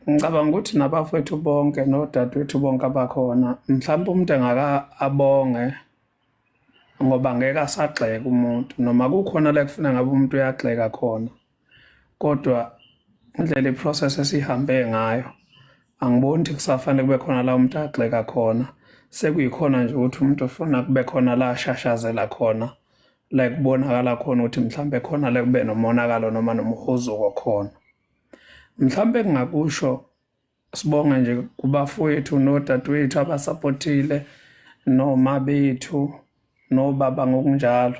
Ngicabanga ukuthi nabafowethu bonke nodadewethu bonke abakhona mhlawumbe umuntu engaka abonge ngoba ngeke asagxeka umuntu noma kukhona la kufuna ngabe umuntu uyagxeka khona kodwa indlela iprocess esihambe ngayo angiboni ukuthi kusafanele kube khona la umuntu agxeka khona sekuyikhona nje ukuthi umuntu ufuna kube khona la ashashazela khona la kubonakala khona ukuthi mhlawumbe khona la kube nomonakalo noma nomhuzuko khona Mhlawumbe engingakusho sibonga nje kubafowethu nodadewethu abasapothile noma bethu nobaba ngokunjalo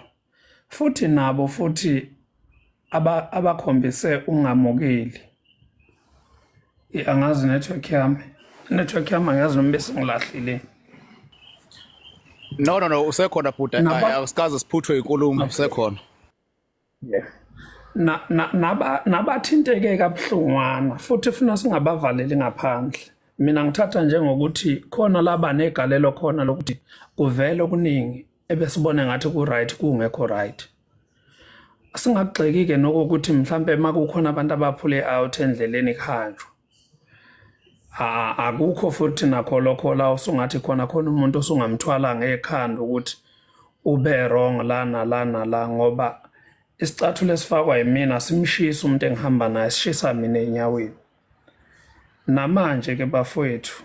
futhi nabo futhi abakhombise ungamukeli angazi network yami network yami angazi noma besingilahlile no no no usekhona bhuti awusikaze siphuthwe inkulumo usekhona nabathinteke na, na, kabuhlungwana futhi funa singabavaleli ngaphandle mina ngithatha njengokuthi khona laba negalelo khona lokuthi kuvele okuningi ebesibone ngathi ku-right kungekho right singagxeki-ke nokokuthi mhlawumpe uma kukhona abantu abaphule out endleleni kuhanjwa akukho futhi nakho lokho la usungathi khona khona umuntu osungamthwala ngekhanda ukuthi ube wrong lana lana la ngoba isicathulo esifakwa yimina simshisa umuntu engihamba naye sishisa mina enyaweni namanje ke bafowethu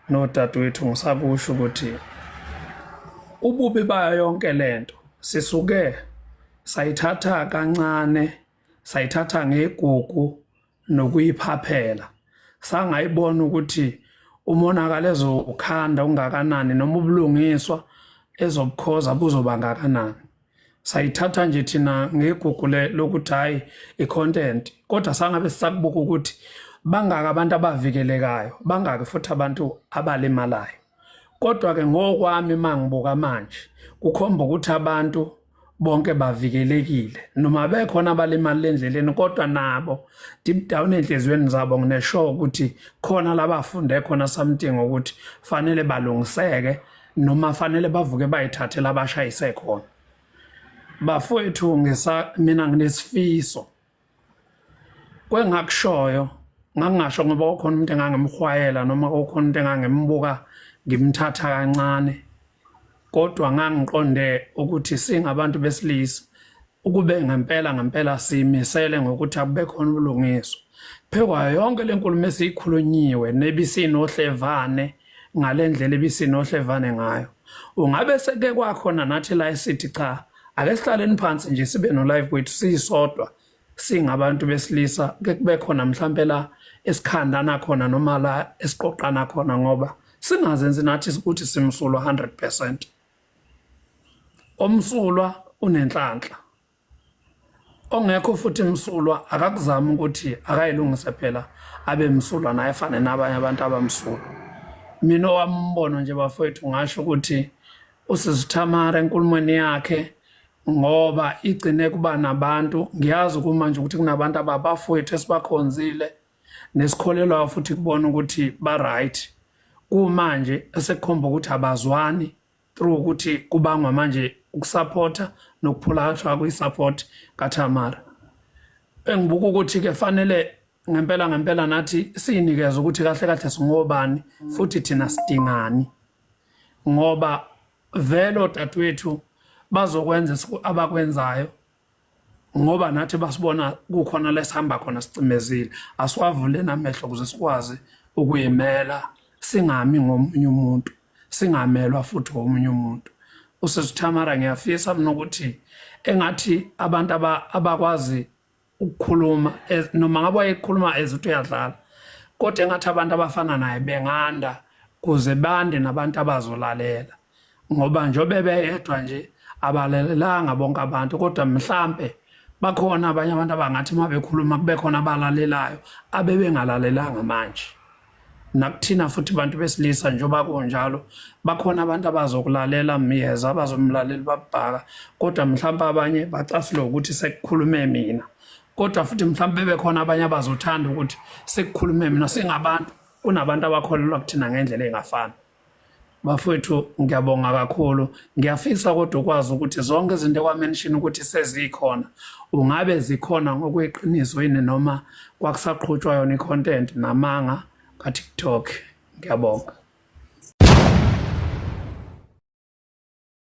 nodadewethu ngisakusho ukuthi ububi bayo yonke lento sisuke sayithatha kancane sayithatha ngegugu nokuyiphaphela sangayibona ukuthi umonakalo ezowukhanda ungakanani noma ubulungiswa ezobukhoza buzoba ngakanani sayithatha nje thina ngegugu lokuthi hhayi i-content kodwa sangabe sisakubuka ukuthi bangaki abantu abavikelekayo bangaki futhi abantu abalimalayo kodwa ke ngokwami mangibuka manje kukhomba ukuthi abantu bonke bavikelekile noma bekhona abalimali endleleni kodwa nabo deep down enhliziyweni zabo nginesho ukuthi khona labafunde khona something ukuthi fanele balungiseke noma fanele bavuke bayithathela abashayise khona bafowethu ngisa mina nginesifiso kwengakushoyo ngangingasho ngoba ukhona umuntu engangemhwayela noma ukhona umuntu engangembuka ngimthatha kancane kodwa ngangiqonde ukuthi singabantu besilisa ukube ngempela ngempela simisele ngokuthi akube khona ubulungiswa phekwayo yonke le nkulumo esiyikhulunyiwe nebisinohlevane ngale ndlela ebisinohlevane ngayo ungabe seke kwakhona nathi la esithi cha ake sihlaleni phansi nje sibe no live kwethu siyisodwa singabantu besilisa ke kube khona mhlampe la esikhandana khona noma la esiqoqana khona ngoba singazenzi nathi ukuthi simsulwa 100% omsulwa unenhlanhla ongekho futhi msulwa akakuzama ukuthi akayilungise phela abe msulwa naye fane nabanye abantu abamsulwa mina owambono nje bafowethu ngasho ukuthi usisi Tamara enkulumweni yakhe ngoba igcine kuba nabantu ngiyazi kumanje ukuthi kunabantu ababafowethu esibakhonzile nesikholelwayo futhi kubona ukuthi ba-right kumanje esekukhomba ukuthi abazwani through ukuthi kubangwa manje ukusaphotha nokuphulathwa kwi-support kaTamara engibuka ukuthi-ke fanele ngempela ngempela nathi siyinikeze ukuthi kahle kahle singobani futhi thina sidingani ngoba vele odadewethu bazokwenza abakwenzayo ngoba nathi basibona kukhona lesihamba khona sicimezile asiwavule namehlo ukuze sikwazi ukuyimela singami ngomunye umuntu singamelwa futhi ngomunye umuntu usesithamara ngiyafisa mina ukuthi engathi abantu abakwazi ukukhuluma noma ngabe wayekhuluma as ukuthi uyadlala kodwa engathi abantu abafana naye benganda kuze bande nabantu abazolalela ngoba njobe beyedwa nje abalelelanga bonke abantu kodwa mhlambe bakhona abanye abantu abangathi uma bekhuluma kube khona abalalelayo abebengalalelanga manje nakuthina futhi bantu besilisa njengoba kunjalo bakhona abantu abazokulalela myeza abazomlalela babhaka kodwa mhlawumbe abanye bacasule ukuthi sekukhulume mina kodwa futhi mhlawumbe bebekhona abanye abazothanda ukuthi sekukhulume mina singabantu kunabantu abakholelwa kuthina ngendlela engafani Bafowethu ngiyabonga kakhulu. Ngiyafisa kodwa ukwazi ukuthi zonke izinto kwamention ukuthi sezikhona. Ungabe zikhona ngokweqiniso yini noma kwakusaqhutshwa yona i-content namanga ka-TikTok. Ngiyabonga.